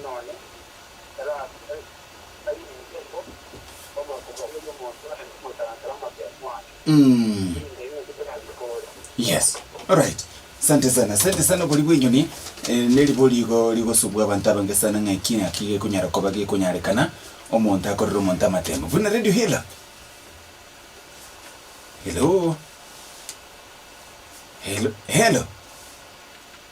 Nonye nerabainense bo omorokigwa oria bw'omonto ore gotaransa amabia mwane, erinde inwe tikoransa kore. Yes. Alright. Sante sana. Sante sana obori bw'enyoni. Eh, neribori igo rigosubwa abanto abange sana ng'a eki naki gekonyara koba gekonyarekana omonto akorere omonto amatemo. Buna Radio Hela. Hello. Hello. Hello.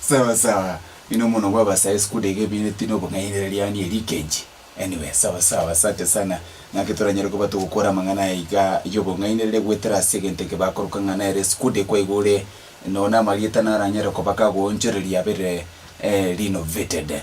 Sawa sawa. Ino mono bwa basae skuda iga ebireneti na obong'ainera riani eri kenchi. Anyway sawa sawa asante sana. Naki toranyare koba togokora amang'ana aya iga yobong'ainerere goetera ase egento eke bakoroka ng'a nere skuda ekwa iga ore noone amarieta naranyare koba kagoonchoreria abere renovated.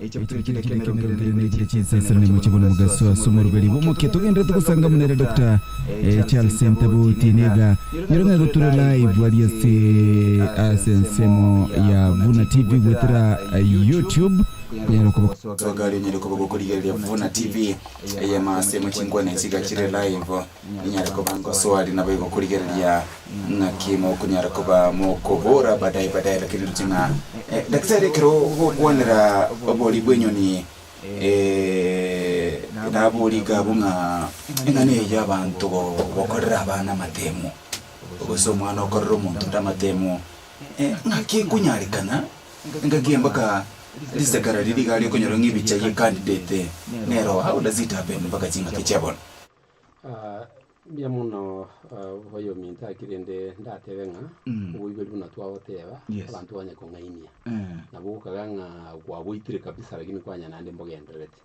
Ekibe kende kende ekemerero nkerende ne chire chi'ensasera naimwe chibone omogaso ase omoruberi bw'omokia. Togendererete gosanga monene Doctor Charles Ntabuti niga nyore ng'aye gotura live aria ase ase ensemo ya Vuna TV goetera YouTube konyara koba Gosoa gari onyare koba gokorigereria Vuna TV eyemo ase emo chinkwana ichiga chire live. Inyare koba nkosoari naboigo korigereria ng'aki mokonyara koba mokobora badaye badaye lakini riche ng'a Daktari ekero ogokwanera obori bw'enyoni ee nabori iga abwo ng'a eng'ana eye y'abanto gokorera abana amatemo gose omwana okorera omonto onde amatemo ng'aki ekonyarekana engaki eye mpaka risekara riria iga riokonyora ng'a ebicha ye candidate nero how does it happen mpaka ching'aki chia bono? Mbuya mono bobe ominto gaki, rende ndatebe ng'a oboibori buna twagoteba abanto banye kong'ainia. Nabo gokagaa ng'a gwaboitire kabisa lakini kwanya naende mbogendererete.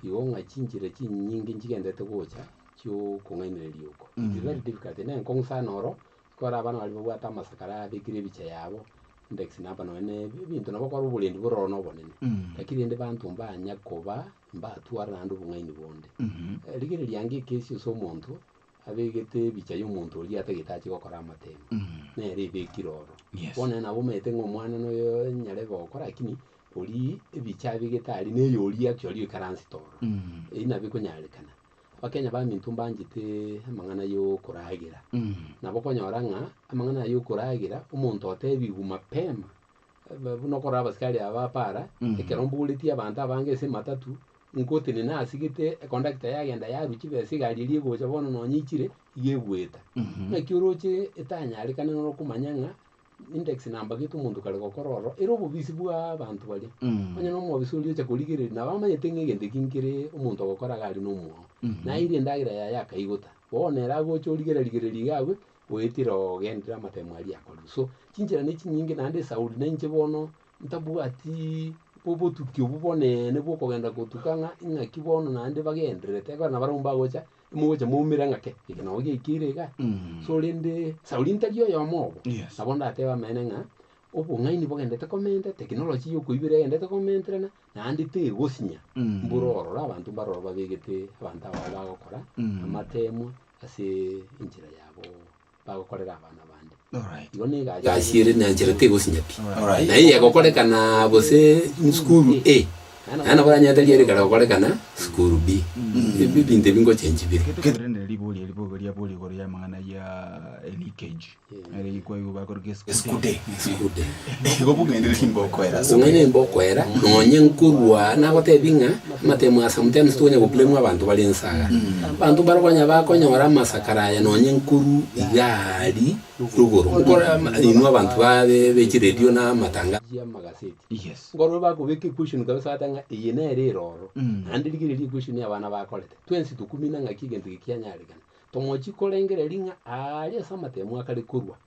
Igo ng'a chinchera chinyinge nchigendererete gocha chi'okong'ainereria oko. It is very difficult. Inee nkong'u sana oro, ekero abana baria babwate amasakara yabekire ebicha yabo, index number nonya na ebinto nabo okore oborendi bororo na obonene. Lakini rende abanto mbanya koba Mbatware naende obong'aini bonde. Rigereria ango ekesi ase omonto abegete ebicha y'omonto oria atagete ache gokora amatemo, nere ebekire oro. Yes. Bono nere nabo omanyete ng'a omwana noyo nyarebe gokora lakini oria ebicha abegete aria neye oria actually oikaransete oro. Eyio nabo ekonyarekana. Abakenya baminto mbanchete amang'ana y'okoragera. Nabo okonyora ng'a amang'ana aya y'okoragera omonto otebigwe mapema Buna okorora abasikari aba bapaara, ekero mboretie abanto abange ase ematatu, ngotenena asigete ekondakita yagenda yarwa chibe ase egari eria egocha bono nonya ichire, iga egweta. Naki oroche etanyarekane noro okomanya ng'a index number gete omonto kare gokora ororo, ere obobisi bwa abanto baria. Onye na omobisa oria ocha korigereria, nabo amanyete ng'a egento eki nkere omonto ogokora iga aria na omwao. Naeire endagera yaye akaigota. Bono ere agocha origerarigereria iga abwe, Goetera ogenderere amatemo aria akorire. So, chinchera ne chinyinge naende esauri na inche bono ntabwati bo- botuki obo bonene bwa okogenda gotuka ng'a ing'aki bono naende bagendererete ekero nabare abwo mbagocha, mogocha moumera ng'a kei, eke nao giaikeire iga. So rende, esauri ntari oyomo obo, Yes. nabo ndatebe amene ng'a, obong'aini bogendererete komentera, technology ya okoibera egendererete komenterana, Naende tegosinya mbura orore abanto mbaroro babegete abanto abao bagokora amateemwa ase enchera yabo bagokorera abana bande. Igo nigo egasi ere na enchera tegosinya pi. Na eye egokorekana gose sukuru A, naende nabo oranyare tari ere kare gokorekana sukuru B. Ebio ebinto ebi ngochengi bire. Gete korende riboria ribogoria boria igoro y'amang'ana ya Elie Keji. Eskude. Nigo bong'aini nimbe okoera ase Bong'aini nimbe okoera, nonye nkorwa nagotebie ng'a amatemo aya sometimes tonya goblamua abanto bare inse aya. Abanto mbarabwo onye bakonyora amasakara aya nonye nkorwa iga aria igoro, nkore ama inwe abanto ba be chiredio na amatangazo ya amagaseti. Nkorwe bakobeka equation kabisa bagoteba ng'a eye nere eroro. Naende rigereria equation ya abana bakorete. Twensi tokumina ng'aki egento eke kianyarekana. Tomochi korengereria ng'a aaria ase amatemo akare korwa.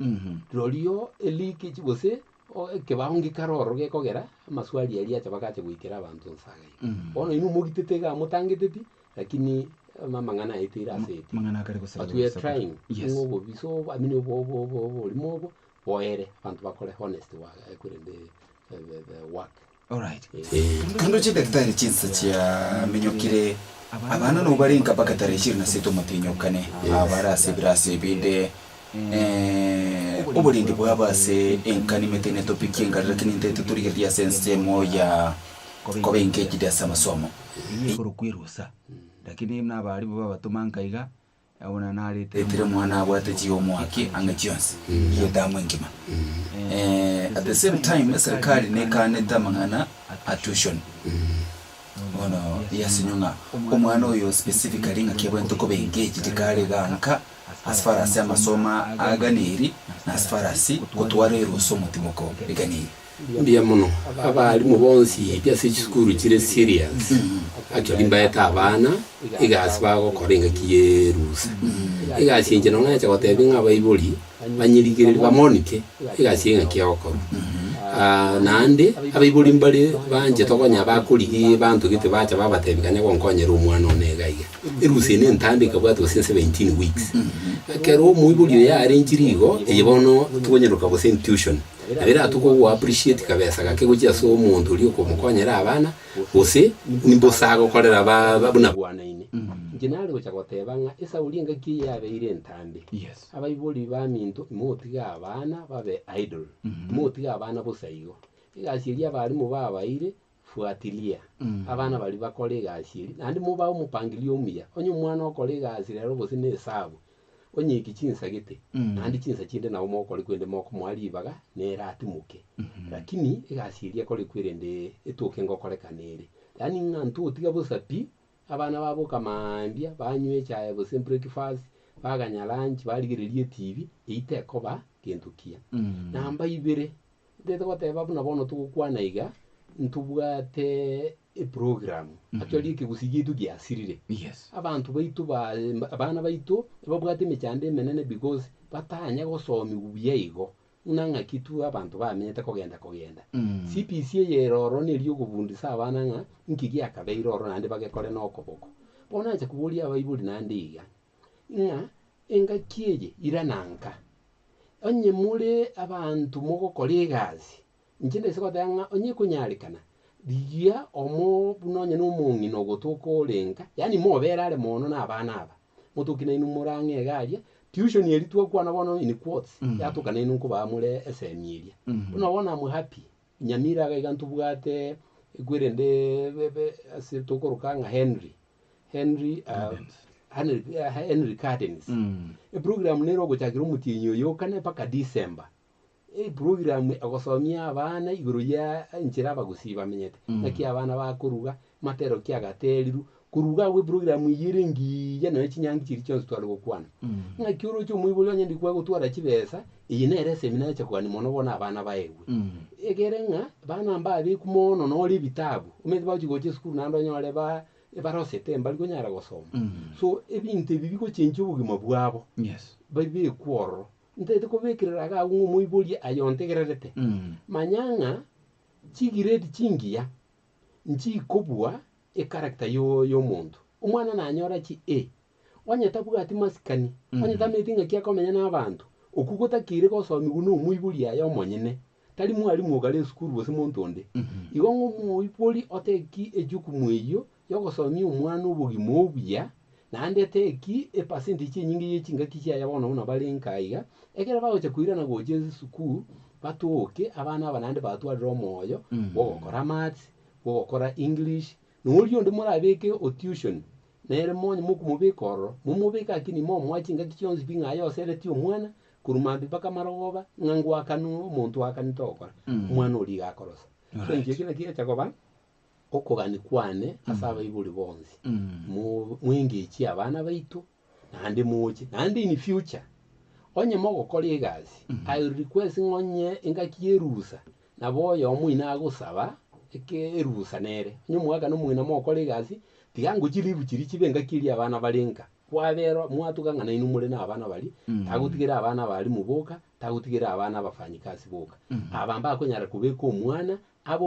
Rorio elikichi gose o- ekebao ngikare ororo gekogera amaswali aria acha bagacha goikera abanto nse aa iga. Bono inwe mogitete iga motangete pi, lakini ama- amang'ana aeteire ase pi. Amang'ana akare gosara But we are gosakwa. trying Yes. ng'a obobisa obo, I mean, obo- obo- obo- oborimo obo boere, abanto bakore honest wa- eh, korende eh, the- the work. Naende chidaktari chinsa chiaminyokire, abana nao barenge mpaka tarehe ishirini na sita omotinyokane, aa bare ase ebirasi ebinde, oborindi bwabo ase enkani emete netopikie engari, lakini ntaete torigereria ase ensemo ya koba engejidi ase amasomo. Eyio ekorokwa erusa, lakini buna abarimu babatoma nka iga. Etire mwana abwate chi'omoaki ang'e chionsi, edamu engima. At the same time eserikari nekaanete amang'ana a tuition. Bono yasinyo ng'a omwana oyo specifically ng'aki abwenerete koba engaged tikare igaa nka as far as amasomo aganeri na as far as gotwara erusa omotimoko eganeri. Mbuya mono abaalimu bonsi b'ase chisukuru chire serious actually mbaete abana egasi bagokora engaki y'erusa. Egasi enche nonya nacha gotebia ng'a abaibori banyerigererie bamonike egasi ya engaki egokorwa. Naende abaibori mbare banchete okonya bakorigia ebanto gete bacha babatebia kanya gonkonyera omwana one iga iga. Erusa eye nentambe ekabwatwa gose 17 weeks. Ekero omoibori oyo yarenchirie igo, eye bono tokonyeroka gose intuition. Nabiratwe ko go appreciate kabesa gake gochia ase omonto oria okomokonyera abana, gose nimbosa agokorera buna bwanaine. Inche nare gocha goteba ng'a esauri engaki eye yabeire entambe. Abaibori baminto imogotiga abana babe idle, imogotiga abana bosa igo. Egasi eria abalimu babaeire. Fuatilia abana baria bakore egasi eria, naende mobae omopangirio omuya. Onye omwana okora egasi rero gose na esabu, onyeki chinsa gete, naende chinsa chinde nabo mogokora ekwende mokomoa ribaga nere atimoke. Lakini egasi eria ekorekwa erende etoke ngokorekana ere. Yaani ng'a ntotiga bosa pi, abana baboka mambia, banywa echae gose breakfast, baganya lunch, barigereria etibi, eyio tekoba gento kiya. Namba ibere, Ntagete goteba buna bono togokwana iga, ntobwate eprogramu actually Mhm. ekegusii giaitu giasirire. Yes. Abanto baito ba abana baito nababwate emechando emenene because batanya gosomigwa buya igo, buna ng'aki tu abanto bamenyete kogenda kogenda. Mm. CBC eye ere ororo neri okobundisa abana ng'a nki giakabeire ororo naende bagekore na okoboko. Bono nanche koboria abaibori naende iga, ng'a engaki eye irana nka? Onye more abanto mogokora egasi, inche nise goteba ng'a onye ekonyarekana, rigia omo buna onye nomong'ina ogotoka orenka, yaani mobere are moono nabana aba, motoki nainwe morang'e iga aria, tuition eria twakwana bono in quotes, yatoka nainwe nkobaa more esemi eria. Buna bono I'm happy. Nyamira iga iga ntobwate ekwe rende bebe ase tokoroka ng'a Henry Henry ah, Henry ah, Henry Gardens eprogram nere ogochakera omotienyi oyo okane mpaka December eprogram egosomia abana igoro ya enchera abagusii bamenyete naki abana bakoruga matero kiagaterirwe korwa iga agwo eprogramu eye ere engiya nonya chinyangi chiria chionsi tware gokwana. Ng'aki oroche omoibori onye ndi kwaye gotwara chibesa, eye nere esemi nacha kogania mono bono abana baegwe. Egere ng'a bana mbabeku mono nore ebitabu, omanyete bagochi gocha esukuru naende onyore ba barosete mbari konyara gosoma. So ebinto ebi bigochenchia obogima bwabo, Yes. babekwe ororo. Ntaete kobekerera iga agwo ng'a omoibori aye ontegererete, manya ng'a chigrade chingiya Nchii kobua e character yomonto. Omwana nanyora chi e. Onye tabwati masikani, onye tameti ng'aki akomenya nabanto, okwo gotakire gosomigwa nomoibori aye omonyene. Tari mwalimu ogare esukuru gose monto onde. Igo ng'omoibori ote ki ejukumu eyio yogosomia omwana obogima obuya Naende teki epercentage enyinge ye chingaki chiaye bono buna bare nka iga, ekero bagocha koirana gochia ase esukuru, batoke, abana aba naende batwarire omoyo Mm. bw'ogokora maths, bw'ogokora English, na oria onde morabeke o tuition, nere monye mokomobeka ororo, momobeke akini momoa chingaki chionsi pi ng'a aye osereti omwana, korwa maambia mpaka marogoba, ng'a ngoakanwe omonto oakanete ogokora, Mm. omwana oria iga akorosa. So Alright. inche ekero naki egecha koba. okogania kwane ase mm. abaibori bonsi mm. mwengechie abana baito naende moche naende in future onye mogokora egasi mm. i will request ng'onye engaki y'erusa nabo oyomo ina agosaba erusa nere onye omwaka nomogina mogokora egasi tiga ngo chilivu chiri chibe engaki eria abana bare nka kwabera mwatuga ng'a nainwe more na abana bari mm. tagotigera abana bari muboka tagotigera abana abafanyikasi boka mm. aba mbakonyara kobeka omwana abo